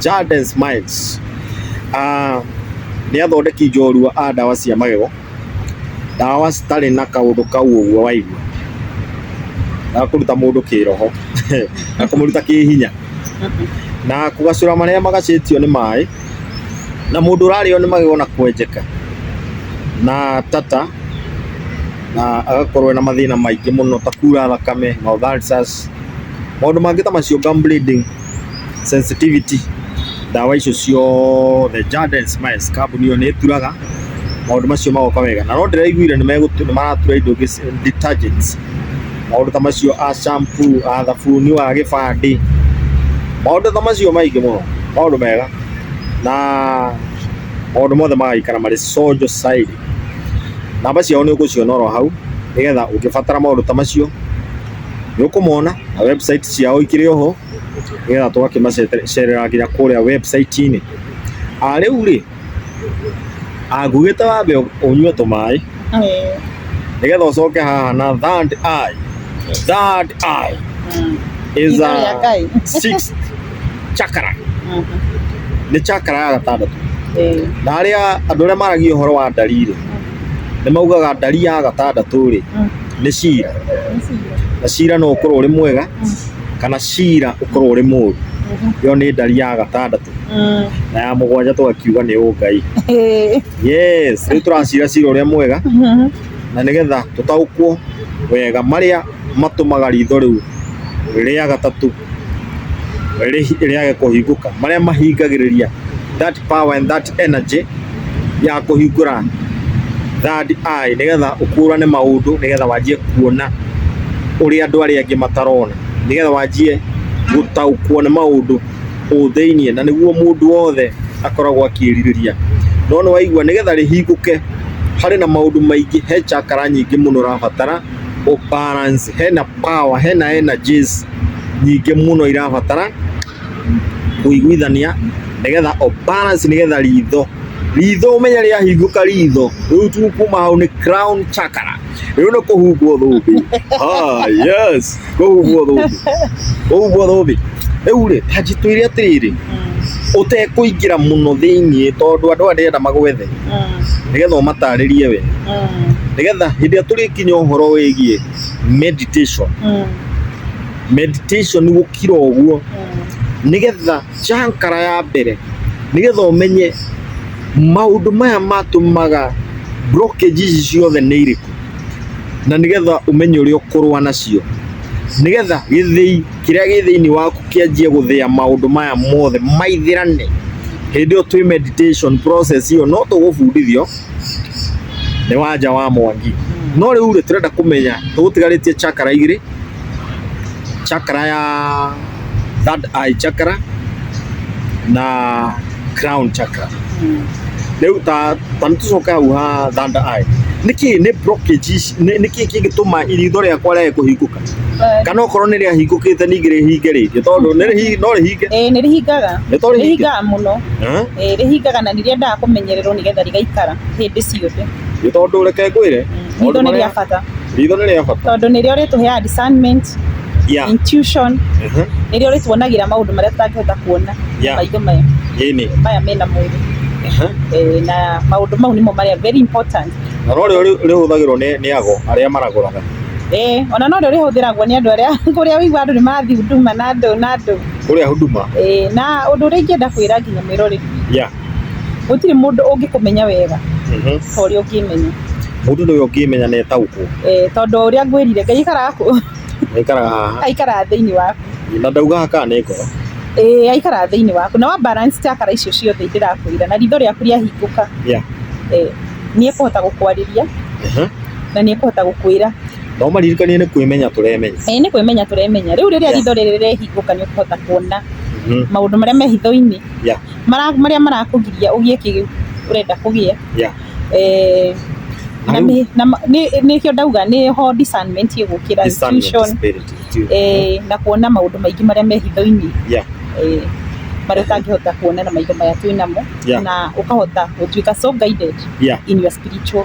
Jaden Smiles ah, nĩ athondeki njorua a ndawa cia magego ndawa citarĩ na kaũndũ kau ũguo waigua na kũruta mũndũ kĩroho na kũmũruta kĩhinya na kũgacũra marĩa magacĩtio nĩ maĩ na mũndũ ũrarĩo nĩ magego na kwenjeka na tata na agakorwo na mathĩna maingĩ mũno ta kuura thakame na ulcers maũndũ mangĩ ta macio gum bleeding sensitivity ndawa icio ciothe Jaden Smiles kambuni ĩyo nĩ ĩturaga maũndũ macio magoka wega na no ndĩraiguire nĩ megũtu- nĩ maratura indo ingĩ ci- detergents maũndũ ta macio a shampoo a thabuni wa gĩbandĩ maũndũ ta macio maingĩ mũno maũndũ mega na maũndũ mothe magaikara marĩ conjo cairi namba ciao nĩ ũgũciona oro hau nĩgetha ũngĩbatara maũndũ ta macio nĩ ũkũmona na website ciao ikĩrĩ oho nĩgetha tũgakĩmacerera nginya kũrĩa website-inĩ. Ah, Rĩu rĩ angugĩte wambe ũnyue tũmaĩ Eh, nĩgetha ũcoke haha na third eye. Third eye mm. is Ritho rĩa a Ngai. sixth chakra Mhm. nĩ chakra ya gatandatũ Eh, na arĩa andũ arĩa maragia ũhoro wa ndariri nĩ maugaga ndari ya gatandatũ rĩ nĩ cira na cira no ũkorwo ũrĩ mwega kana cira ũkorwo ũrĩ mũru ĩyo nĩ ndari ya gatandatũ na ya mũgwanja tũgakiuga nĩ ũngai yes rĩu tũracira cira ũrĩa mwega na nĩgetha tũtaũkwo wega marĩa matũmaga ritho rĩu rĩa gatatũ rĩ- rĩage kũhingũka marĩa mahingagĩrĩria that power and that energy ya kũhingũra third eye nĩgetha ũkũrane maũndũ nĩgetha wanjie kuona ũrĩa andũ arĩa angĩ matarona nĩgetha wanjie gũtaũkwo nĩ maũndũ kũu thĩinĩ na nĩguo mũndũ wothe akoragwo akĩrirĩria no nĩwaigua nĩgetha rĩhingũke harĩ na maũndũ maingĩ he chakra nyingĩ mũno ũrabatara o balance hena power hena energies nyingĩ mũno irabatara kũiguithania nĩgetha o balance nĩgetha ritho ritho ũmenye rĩa hingũka ritho rĩu tu kuma hau nĩ crown chakra rĩu nĩ kũhumbwo thũmbĩ ah yes ũguo thũmbĩ rĩu rĩ tanjitwĩre atĩrĩrĩ mm. ũtekũingĩra mũno thĩinĩ tondũ andũ aya ndĩrenda magwethe mm. nĩgetha ũmatarĩrie we mm. nĩgetha hĩndĩ ĩrĩa tũrĩkinya ũhoro wĩgiĩ meditation meditation gũkira ũguo nĩgetha cankara ya mbere nĩgetha ũmenye maũndũ maya matũmaga blockages ciothe nĩ irĩkũ na nĩgetha ũmenye ũrĩa ũkũrũa nacio, nĩgetha gĩthĩi kĩrĩa gĩ thĩiniĩ waku kĩanjie gũthĩa maũndũ maya mothe maithĩrane, hĩndĩ ĩyo twĩ meditation process ĩyo no tũgũbundithio nĩ wanja wa Mwangi. No rĩu rĩ, tũrenda kũmenya tũgũtigarĩtie chakra igĩrĩ, chakra ya... third eye chakra na crown chakra rĩu ta ta nĩtũcoke hau ha third eye nĩkĩ nĩ blockage ici- nĩ- nĩkĩ kĩngĩtũma iritho rĩakwa rĩage kũhingũka kana okorwo nĩ rĩahingũkĩte ningĩ rĩhinge rĩngĩ tondũ nĩ rĩhi- no rĩhinge ĩĩ nĩ rĩhingaga nĩ to rĩhinge rĩhingaga mũno Eh? ĩĩ rĩhingaga na nĩrĩendaga kũmenyererwo nĩgetha rĩgaikara hĩndĩ ciothe nĩ tondũ reke ngwĩre maũndũ ritho nĩ marĩa- rĩa bata Ritho nĩ rĩa bata. Tondũ nĩrĩo rĩtũheaga discernment, yeah. intuition, uh -huh. nĩrĩo rĩtuonagira maũndũ marĩa tũtangĩhota kuona yeah. maitho maya maya mena mwĩrĩ uh -huh. e, na maũndũ mau nĩmo marĩa very important na no rĩo rĩhũthagĩrwo nĩ ago arĩa maragũraga Eh, ona no rĩo rĩhũthĩragwo nĩ andũ arĩa kũrĩa ũigua andũ nĩ marathiĩ huduma na andũ na andũ kũrĩa huduma eh, na ũndũ ũrĩa ingĩenda kwĩra nginya mwĩroreri yeah. gũtirĩ mũndũ ũngĩkũmenya wega ta ũrĩa ũngĩmenya mũndũ nĩwe ũngĩmenya na etaũkwo eh, tondũ o ũrĩa ngwĩrire ngai aikaraga kũ aikaraga haha aikaraga thĩinĩ waku na ndaugaga kana nĩ ngoro eh, aikaraga thĩinĩ waku na wa balance chakara icio ciothe ndĩrakwĩra na ritho rĩaku rĩahingũka Yeah. eh, nĩ ekũhota gũkwarĩria Ehe. na nĩ ekũhota gũkwĩra no maririkanie nĩ kwĩmenya tũremenya eh, nĩ kwĩmenya tũremenya rĩu rĩrĩa Yeah. ritho rĩrĩ rĩahingũka nĩ ũkũhota kuona Mhm. maũndũ marĩa me hitho-inĩ Yeah. mara- marĩa marakũgiria ũgĩe kĩu ũrenda kũgĩa yeah. eh, Na na rĩu- nĩ- na ma- nĩ- nĩkĩo ndauga nĩho discernment ĩgũkĩra Discernment intuition, spirit, intuition. eh, na kuona maũndũ maingĩ marĩa me hitho-inĩ Yeah. eh, marĩa ũtangĩhota kuona na maitho maya twĩ namo Yeah. na ũkahota gũtuĩka so guided Yeah. in your spiritual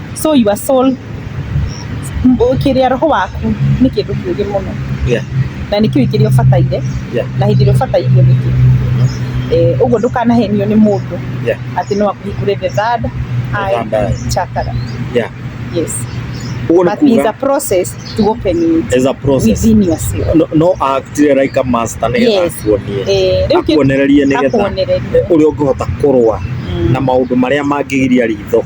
so your soul kĩrĩa roho waku nĩ kĩndũ kĩũgĩ mũno yeah. na nĩ kĩũĩ kĩrĩa ũbataire yeah. na hĩndĩ ĩrĩa ũbatairio nĩkĩ mm-hmm. eh, ũguo ndũkanahenio nĩ mũndũ yeah. atĩ no akũhingũre the third eye chakra yeah. yes But it's a process to open it. It's a process. Within yourself. No, no actire like a master nä getha akuonie. Eh, akuonererie nä getha å rä a å ngä hota kå rå a na maå ndå marä a mangä giria ritho.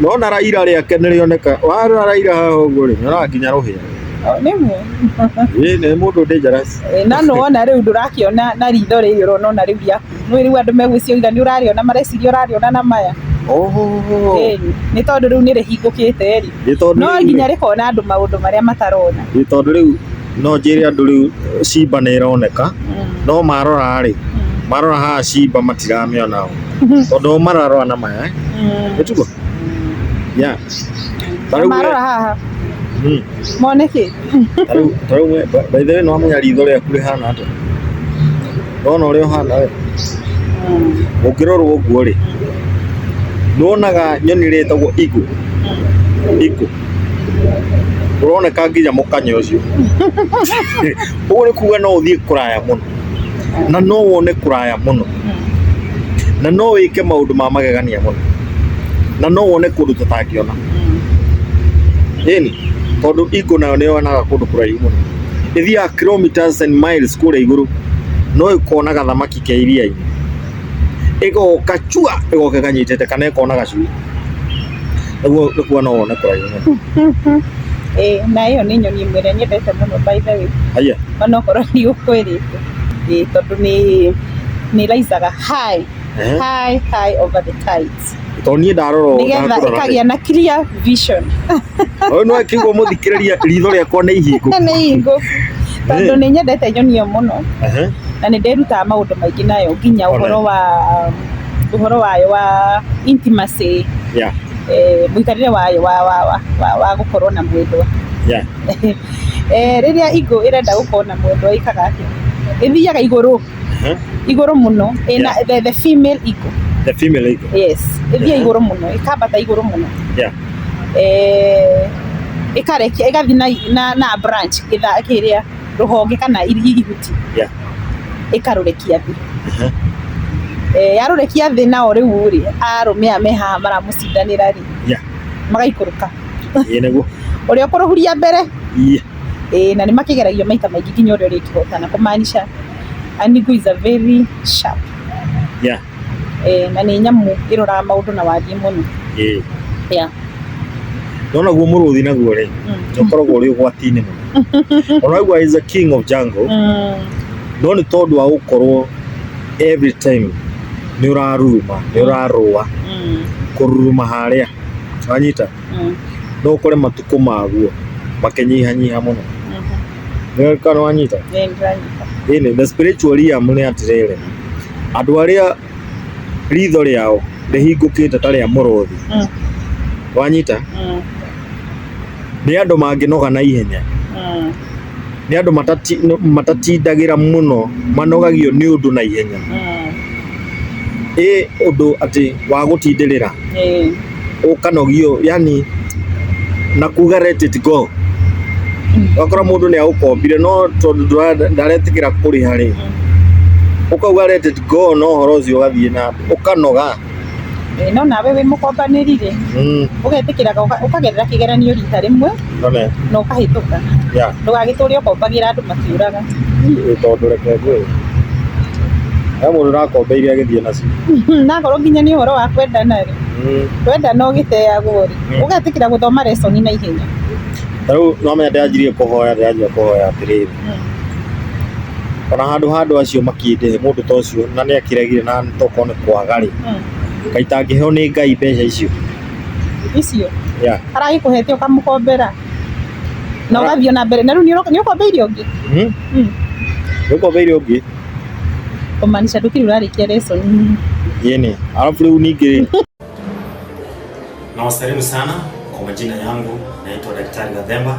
Nona Raila rĩake nĩ rĩoneka, warora Raila haha ũguo rĩ, nyonaga nginya rũhĩa. Nĩ mu. Ĩĩ nĩ mũndũ dangerous. Ĩ, na nĩ wona rĩu ndũrakĩona na ritho rĩrĩ ũrona ona rĩu rĩaku nĩ rĩu andũ megwĩciria ũira nĩ ũrarĩona mareciria ũrarĩona na maya Oho. Ĩĩ, nĩ tondũ rĩu nĩ rĩhingũkĩte rĩ Nĩ tondũ no rĩu- nginya rĩkona andũ maũndũ marĩa matarona. Nĩ tondũ rĩu No njĩre andũ rĩu Simba nĩ ĩroneka, no marora-rĩ, marora haha Simba matiramĩona oo. Tondũ oo mararora na maya eh. Nĩ tiguo? Yeah. Ta rĩu we- Marora haha Mm. mone kĩ? Ta rĩu- ta rĩu we- by- by the way nĩ wamenya ritho rĩaku rĩhana atĩa? Ndona ũrĩa ũhana we. Ũngĩrorwo ũguo-rĩ, nĩ wonaga nyoni ĩrĩa ĩtagwo eagle. Eagle. ũroneka nginya mũkanya ũcio ũguo nĩ kuga no ũthiĩ kũraya mũno na no wone kũraya mũno na no wĩke maũndũ ma magegania mũno na no wone kũndũ tũtangĩona ĩni tondũ iko nayo nĩ yonaga kũndũ kũraihu mũno ĩthiaga kilometers and miles kũrĩa igũrũ no ĩkonaga thamaki ke iria-inĩ ĩgoka chua ĩgoka ĩkanyitĩte kana ĩkona gacui naguo nĩkuo no wone kũraihu mũno Eh, na ĩyo nĩ nyoni ĩmwe ĩrĩa nyendete mũno by the way haiya onokorwo nĩ ũkwĩrĩte Eh, tondũ nĩ nĩ raisaga high Ehe. high high over the tides tondũ niĩ ndarora ũũ, nĩgetha ndakũrora rĩ, ĩkagĩa na clear vision ũyũ nĩ akĩigua mũthikĩrĩria ritho rĩakwa nĩ ihingo na nĩ hingo tondũ Eh. nĩ nyendete nyoni ĩyo mũno Ehe. na nĩ ndĩrutaga maũndũ maingĩ nayo nginya Ona. ũhoro wa ũhoro wayo wa intimacy Yeah, eh, mũikarĩre wayo wa, wa, wa, wa, wa gũkorwo na mwendwa yeah. eh, rĩrĩa ingũ ĩrenda gũkorwo na mwendwa ĩkaga atĩa ĩthiaga igũrũ Aha. igũrũ mũno ĩna Yeah. the, the female iko The female eagle. yes ĩthiĩ Yeah. igũrũ mũno ĩkambata igũrũ mũno Yeah. eh, ĩkarekia ĩgathi na, na, na branch gĩtha kĩrĩa rũhonge kana iri- ihuti Yeah. ĩkarũrekia thĩ Aha. eh, yarũrekia thĩ nao rĩu rĩ arũme aya me haha maramũcindanĩra rĩ Yeah. magaikũrũka Ĩĩ nĩguo. ũrĩa ũkũrũhuria mbere Yeah. ĩĩ na nĩ makĩgeragio maita maingĩ nginya ũrĩa ũrĩkĩhotana kũmaanisha Anigu is a very sharp yeah. eh, na nĩ nyamũ ĩroraga maũndũ na wariĩ mũno yeah. yeah. nona guo mũrũthi naguo rĩ mm. nĩũkoragwo ũrĩ ũgwati-inĩ mũno onaguo is a king of jungle mm. no nĩ tondũ wa gũkorwo every time nĩ ũraruruma nĩ ũrarũa mm. kũruruma harĩa wanyita Mm. no ũkore matukũ maguo makĩnyihanyiha mũno Nĩ- kana nĩwanyita Nĩ ndĩranyita. Ĩnĩ, the spiritual realm nĩ atĩrĩrĩ andũ arĩa ritho rĩao rĩhingũkĩte ta rĩa mũrũthi Mm. wanyita Mm. nĩ andũ mangĩnoga na ihenya Mm. nĩ andũ matati, matatindagĩra mũno manogagio nĩ ũndũ na ihenya Mm. ĩ ũndũ atĩ wa gũtindĩrĩra Eh. ũkanogio yani na kuga let it go wakora mũndũ nĩ agũkombire no tondũ ndũra- ndaretigĩra kũrĩha rĩ ũkauga let it go no ũhoro ũcio ũgathiĩ na ũkanoga Eh, no nawe wĩ mũkombanĩri rĩ Mm, ũgetĩkĩraga ũka- ũkagerera kĩgeranio rita rĩmwe amen. na ũkahĩtũka Yeah. ndũgagĩtũre ũkombagĩra andũ makĩũraga Niĩ tondũ reke ngwĩre. He mũndũ ũrakombeire agĩthiĩ nacio. Hmm, nakorwo nginya nĩ ũhoro wa kwendana rĩ Mm. kwendana ũgĩteagwo rĩ Mm. ũgetĩkĩra gũthoma resoni na ihenya Ta rĩu no menya ndĩranjirie kũhoya ndĩranjia kũhoya atĩrĩrĩ Ona handũ ha andũ acio makĩndĩhe mũndũ ta ũcio na nĩ akĩregire na tokorwo nĩ kwaga rĩ, Ngai itangĩheo nĩ Ngai mbeca icio. icio Yeah. aragĩkũhete ũkamũkombera na ũgathiĩ na mbere na rĩu nĩ ũkombeire ũngĩ Hmm? Mm. Nĩũkombeire ũngĩ? kũmaanisha ndũkĩrĩ ũrarĩkia lesson Yeni. Alafu rĩu ningĩ Nawasalimu sana kwa majina yangu, naitwa Daktari Gathemba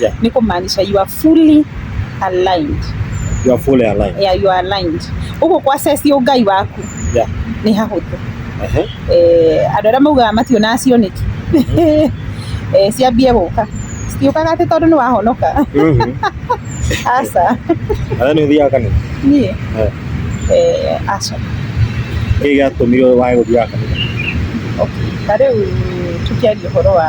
Yeah. ni kumaanisha you are fully aligned You are fully aligned. yeah, you are aligned ũguo kwa ceci ũngai waku Yeah. nĩ hahũthũ Uh-huh. eh, andå arä a maugaga mationaga cioneki eh, ciambie gå ka citiåkaga atä tondå nä wahonoka Mhm. aca Na then ũthiaga kanitha. niä Eh. eh, aca Kĩĩ gĩatũmire wage gũthiaga kanitha? okay. ta rä u tå kä aria å horo wa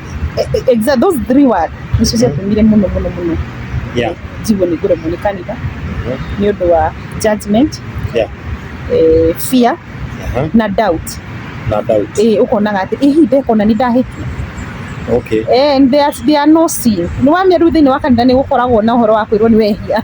E- e- exa those three words nicio ciatũmire mũno mũno mũno Yeah. njigwo nĩ ngũremwo nĩ kanitha Mhm. nĩ ũndũ wa judgment Yeah. eh, fear Aha. na doubt Na doubt. eh, ũkonaga atĩ ihi ndekona nĩ ndahĩtia Okay. eh, there, there are no sin nĩ wamia rĩu thĩinĩ wa kanitha nĩ gũkoragwo na ũhoro wa kwĩrwo nĩ wehia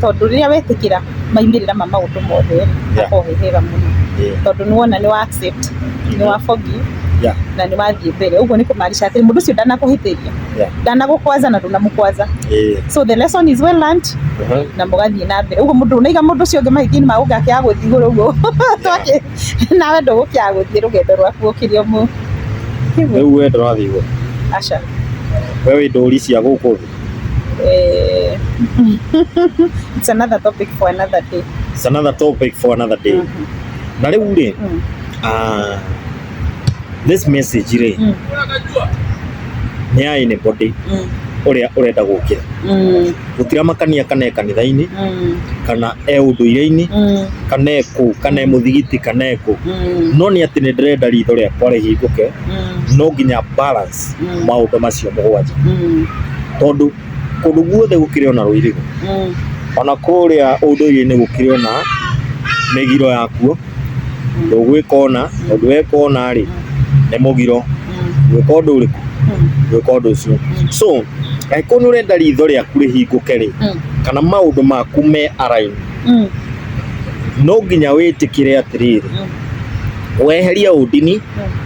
Tondũ rĩrĩa wetĩkĩra maumĩrĩra ma maũndũ mothe rĩ, hakoragwo he hega mũno. Tondũ nĩ wona nĩ wa accept, nĩ wa forgive na nĩ wathiĩ mbere. Ũguo nĩ kũmaanisha atĩ mũndũ ũcio ndanakũhĩtĩria, ndanagũkwanza na ndũnamũkwanza. So the lesson is well learnt na mũgathiĩ na mbere. Ũguo ndũnaiga mũndũ ũcio ũngĩ mahĩtia-inĩ ma gũgĩka kĩaga gũthiĩ igũrũ ũguo. Nawe ndũgũkĩaga gũthiĩ rũgendo rwaku ũkĩrĩ o mũũ. Rĩu we ndũrathiĩ igũrũ? Aca. We wĩ ndũri cia gũkũ thĩ? Eh, it's another topic for another day. It's another topic for another day. Mm -hmm. Na rĩu rĩ, mm. uh, this message rĩ, mm. nĩ ya anybody mm. ũrĩa ũrenda gũkĩra mm. gũtira makania kana e kanitha-inĩ mm. kana e ũndũire-inĩ mm. kana e kũ kana e mm. mũthigiti kana e kũ mm. no nĩ atĩ nĩ ndĩrenda ritho rĩakwa rĩhingũke mm. no nginya balance Mm. maũndũ macio mũgwanja Mm. tondũ kũndũ guothe gũkĩrĩ ona rũirigo Mm. ona kũrĩa ũndũire-inĩ gũkĩrĩ ona mĩgiro yakuo ndũgwĩka ona ũndũ weka ona rĩ nĩ mũgiro Mm. gwĩka ũndũ ũrĩkũ Mm. gwĩka ũndũ ũcio so angĩkorwo nĩ ũrenda ritho rĩaku rĩhingũke rĩ Mm. kana maũndũ maku me araini Mm. no nginya wĩtĩkĩre atĩrĩrĩ Mm. weheria ũndini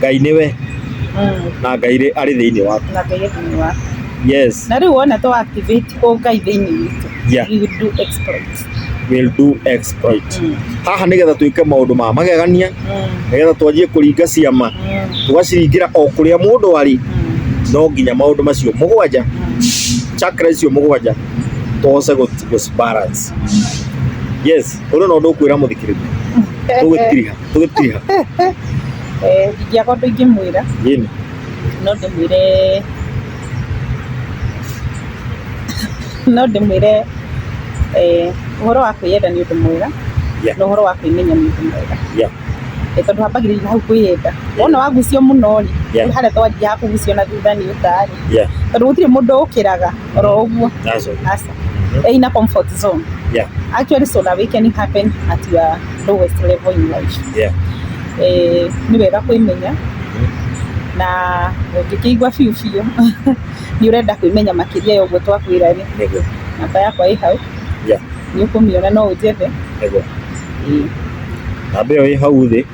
ngai nĩwe Mm, na ngai rĩ- arĩ thĩinĩ waku na ngai thĩinĩ waku yes na rĩu wona to activate o ngai thĩinĩ witũ Yeah. we will do exploits will do exploit Mm, haha nĩgetha twĩke maũndũ ma magegania mm, nĩgetha twanjie kũringa ciama mm, tũgaciringĩra o kũrĩa mũndũ arĩ mm, no nginya maũndũ macio mũgwanja mm. chakra icio mũgwanja tũhoce gũci- gũcibalance yes ũrĩ na ũndũ ũkwĩra mũthikĩrĩria tũgwĩtiriha tũgĩtiha Eh, ingĩaga ũndũ ingĩmwĩra Nini. no ndĩmwĩre no ndĩmwĩre eh, ũhoro wa kwĩyenda nĩ ũndũ mwega Yeah. na ũhoro wa kwĩmenya nĩ ũndũ mwega Yeah. Eh, tondũ hambagĩrĩria hau kwĩyenda wona wagucio mũno rĩ Yeah. harĩa twanjia ha kũgucio na thutha nĩ ũtarĩ Yeah. tondũ gũtirĩ mũndũ ũkĩraga oro ũguo That's all. aca yeah. in a comfort zone. Yeah. Actually, so that we can happen at your lowest level in life. Yeah. Eh, ni wega kwimenya mm-hmm. na ũngĩkĩigua biũ biũ nĩ ũrenda kwĩmenya makĩria ya ũguo twakwĩra rĩ namba yakwa ĩ hau nĩ ũkũmĩona no ũnjethe namba ĩyo ĩ hau thĩ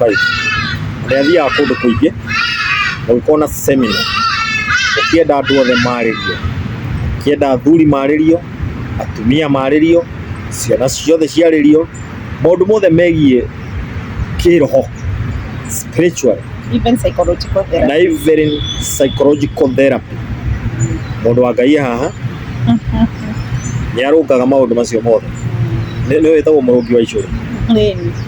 5 ũrĩa thiaga kũndũ kũingĩ ũngĩkorwo na semina ũkĩenda andũ othe marĩrio ũkĩenda athuri marĩrio atumia marĩrio ciana ciothe ciarĩrio maũndũ mothe megiĩ kĩroho spiritual Even psychological therapy. na even psychological therapy mũndũ wa ngai e haha nĩ arũngaga maũndũ macio mothe nĩ nĩ wĩtagwo mũrũngi wa icũrĩ nĩ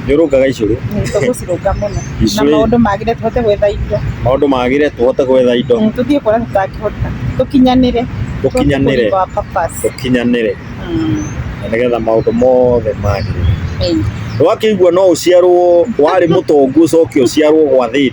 nĩ ũrũngaga icũrĩ tũgũcirũnga mũno na Icũrĩ. maũndũ magĩre tũhote gwetha indo maũndũ magĩre tũhote gwetha indo Mm, tũthiĩ kuona tũtangĩhota tũkinyanĩre Tũkinyanĩre. Tũhote kũhinga our purpose. tũkinyanĩre Mm, na nĩgetha maũndũ mothe magĩrĩre ĩĩ. ndwakĩigua no ũciarwo warĩ mũtongu ũcoke ũciarwo gwa thĩni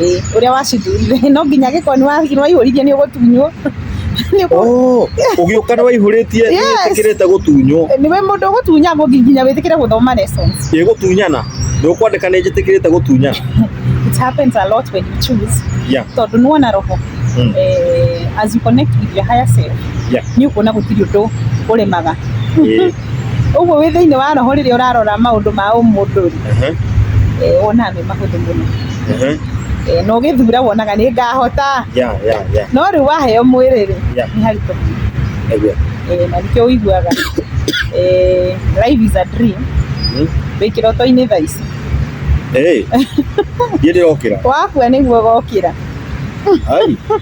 Ĩĩ ũrĩa wacithurire no nginya gĩkoni waihũririe nĩ ũgũtunywo oh, ũgĩũka nĩ waihũrĩtie ĩtĩkĩrĩte gũtunywo nĩ we mũndũ ũgũtunya nginya wĩtĩkĩre gũthoma lesson ĩ gũtunyana nĩ ũkwandĩka nĩ njĩtĩkĩrĩte gũtunyana it happens a lot when you choose yeah. tondũ nĩ wona roho mm. eh, as you connect with your higher self yeah. nĩ ũkuona gũtirĩ ũndũ ũremaga Ũguo wĩ thĩinĩ wa roho rĩrĩa ũrarora maũndũ ma ũmũndũ rĩ, eh, wonaga me mahũthũ mũno Eh, na ũgĩthura wonaga nĩ ngahota Yeah, yeah, yeah. no rĩu waheo mwĩrĩ rĩ Yeah. nĩ haritũ mũno. Eguo. Eh, na nĩkĩo ũiguaga eh, life is a dream Mm. wĩ kĩroto-inĩ thaa ici Eh. Ndiĩ ndĩrokĩra. wakua nĩguo gokĩra Ai.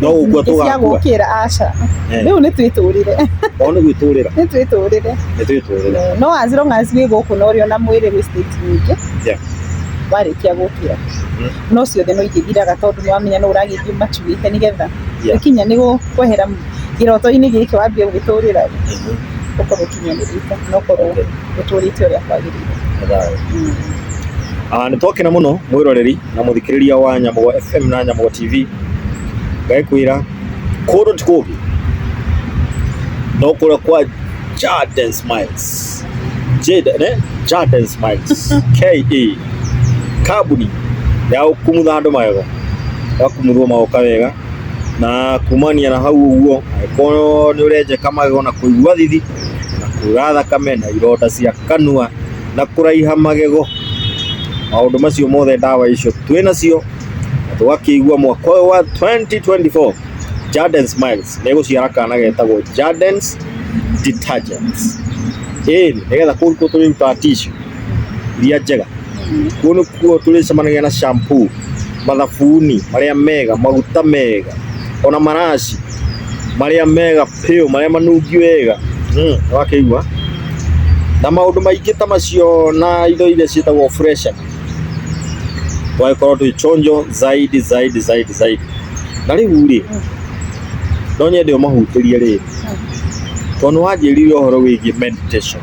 No ũguo tũgakua. aca eh. rĩu nĩ twĩtũrĩre o nĩ gwĩtũrĩra nĩ twĩtũrĩre nĩ twĩtũrĩre eh, no as long as wĩ gũkũ na ũrĩ ona mwĩrĩ wĩ state nyingĩ warĩkia gũkĩra mm. no ciothe no igĩthiraga tondũ nĩ wamenya no ũragĩthiĩ macuĩte nĩ getha gĩkinya nĩ kwehera kĩroto-inĩ gĩkĩ wambia gũgĩtũrĩra mm-hmm. ũkorwo ũkinyanĩrĩte na ũkorwo ũtũrĩte ũrĩa kwagĩrĩire mm. ah, nĩ twakena mũno mwĩroreri na mũthikĩrĩria wa Nyamũgo FM na Nyamũgo TV ngaĩkwĩra kũndũ ti kũngĩ no kũrĩa kwa Jaden Smiles Jaden eh? Jaden Smiles KE kambuni ya kumutha andũ magego ya kumuthwo magoka wega na kumania na hau ũguo angĩkorwo nĩ ũrenjeka magego na kũigua thithi na kura thakame na ironda cia kanua na kũraiha magego maũndũ macio mothe ndawa icio twĩ nacio na tũgakĩigua mwaka ũyũ wa 2024 Jaden Smiles nĩ gũciara kana getagwo Jaden's Detergents ĩĩ nĩgetha kũu nĩkuo tũrĩrutaga tissue iria njega kũu nĩkuo tũrĩcemanagia na shampoo mathabuni marĩa mega, maguta mega, ona maraci marĩa mega biũ, marĩa manungi wega, nĩ wakĩigua? Na maũndũ maingĩ ta macio na indo iria ciĩtagwo fresha, tũgagĩkorwo twĩ chonjo zaidi zaidi zaidi zaidi. Na rĩu rĩ, no nyende ũmahutĩrie rĩrĩ, tondũ nĩ wanjĩrire ũhoro wĩgiĩ meditation.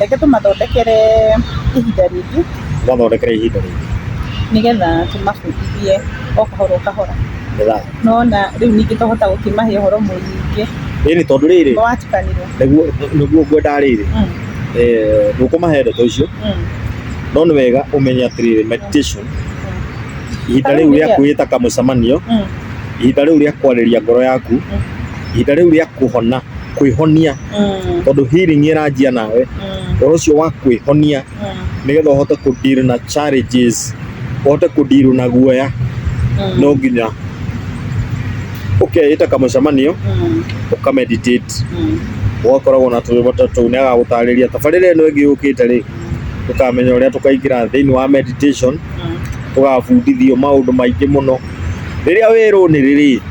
reke tũmathondekere ihinda rĩngĩ Tũmathondekere ihinda rĩngĩ. nĩgetha tũmabundithie o kahora o kahora Nĩgetha- nona rĩu ningĩ twahota gũkĩmahe ũhoro mũingĩ Rĩrĩ tondũ rĩrĩ watukanirwo nĩguo nĩguo ngwendaga rĩrĩ Mm, eh, ndũkũmahe ndeto icio mm, no nĩ wega ũmenye atĩrĩrĩ meditation ihinda rĩu rĩa kwĩta kamũcemanio mm. ihinda rĩu rĩa kwarĩria ngoro yaku ihinda rĩu rĩa kũhona kwĩhonia Mm. tondå healing ä ranjia nawe Mm. å horo å cio wa kwä honia Mm. nä getha å hote kå deal na challenges å hote kå deal na guoya Mm. no nginya å keä ta kamå cemanio Mm. å ka meditate Mm. ũgakoragwo na tũrĩbata tũu nĩ agagũtarĩria tabarĩra ĩno ĩngĩ yũkĩte rĩ tũkamenya ũrĩa tũkaingĩra thĩinĩ wa meditation Mm. tũgabundithio maũndũ maingĩ mũno rĩrĩa wĩrũnĩrĩ rĩ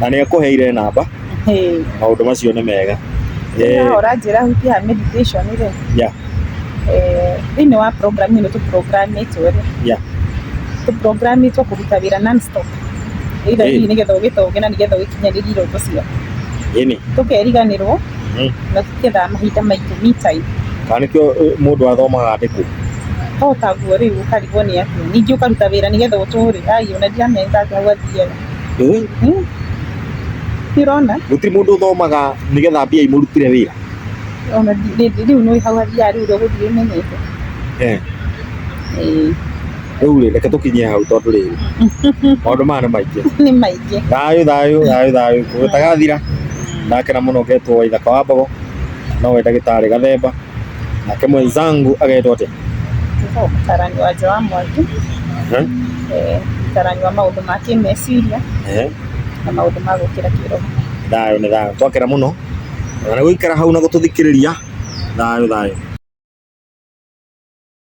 na nä ekå heire namba Hey. maå ndå macio nä mega Eh, Ĩno ũranjĩra hutia meditation rĩ yeah, eh, thĩinĩ wa program ĩno tũprogramitwo rĩ yeah. tũprogramitwo kũruta wĩra nonstop ĩitha Ĩĩ. hihi nĩgetha ũgĩtonge na nĩgetha ũgĩkinyanĩrie iroto ciaku ä nä tũkeriganĩrwo Mm. na tũkethaa mahinda maitũ me time kana nä kä o må ndå athomaga andä kå to taguo rĩu ũkarigwo nĩ atĩa ningĩ ũkaruta wĩra nĩgetha ũtũre ai ona ndiramenya atĩ hau athiaga Eh? Hmm? Ndirona? Gũtirĩ mũndũ ũthomaga nĩgetha mbia imũrutire wĩra. Ona rĩu nĩ hau athiaga rĩu gũthiĩ menyete. Eh. Eh. Rĩu rĩ reke tũkinyie hau tondũ rĩrĩ maũndũ maya nĩ maingĩ. Nĩ maingĩ. Thayũ thayũ thayũ thayũ gũtagathira nake na mũno getwo Waithaka wa Mbogo no we ndagĩtarĩ Gathemba nake mwenzangu agetwo atĩa? gũtuĩka ũtarani wa nja wa mwaki, ũtarani wa maũndũ ma kĩmeciria na maũndũ ma gũkĩra kĩroho. Thayũ nĩ thayũ, twakena mũno na nĩ gũikara hau na gũtũthikĩrĩria, thayũ thayũ.